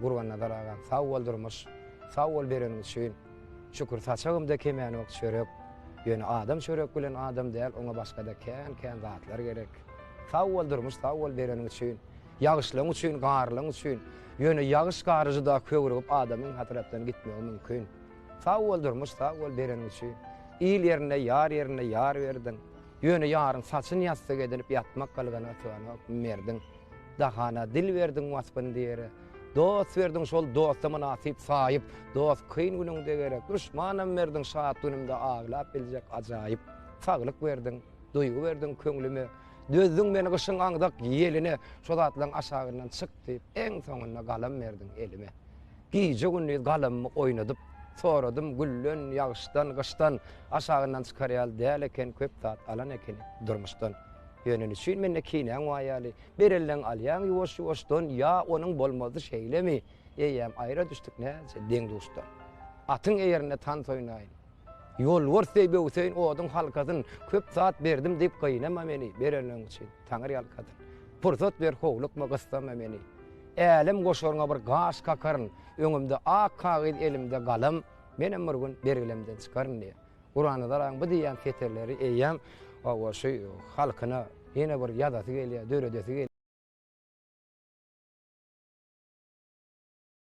Gurbannazar agam sag bol durmuş sag bol bereniň üçin şükür saçagymda kemenok çörek ýöne adam çörek bilen adam däl oňa başgada kän kän zatlar gerek sag bol durmuş sag bol bereniň üçin ýagyşlaň üçin garlaň üçin ýöne ýagyş gary juda köwrügip adamyň hatyratdan gitmegi mümkin sag bol durmuş sag bol bereniň üçin il ýerinde ýar ýerinde ýar berdiň ýöne ýaryň saçyn ýassyk edinip ýatmak galgana syganok merdiň. Dahana dil berdiň waspyn diýere. Dost berdiň şol dosta mynasyp saýyp, Dost kyn günüňde gerek, duşmanam berdiň Şat günümde aglap biljek ajaýyp. Saglyk berdiň, duýgy berdiň köňlüme, Dözdüň meni gyşyň aňzak ýeline, Şo zatlaň aşagyndan çyk diýip, Eň soňunda galam berdiň elime. Gije-gündiz galamymy oýnadyp, Soradym gülden, ýagyşdan, gyşdan, Aşagyndan çykar ýaly däl eken, Köp zat alan ekenik durmuşdan. Ýöne niçin mende kinäň bar ýaly? Bir elden alýaň ýuwaş-ýuwaşdan, ýa onuň bolmazdy şeýlemi? Eýýäm aýra düşdük näçe deň-duşdan. Atyň eýerinde tans oýnaýyn. Ýolbars deý böwseýin oduň halkasyn, Köp zat berdim diýip gynama meni, Berenleň üçin taňyrýalkasyn. Pursat ber howlukma gyssama meni. Älem goşaryňa bir gaş kakaryn, Öňümde ak kagyz elimde galam, Menem bir gün bergilemden çykaryn diýýär. Gurbannazaryň bu diýýän setirleri eýýäm hawa şu halkyna ýene bir ýazasy gelýär, döredesi gelýär.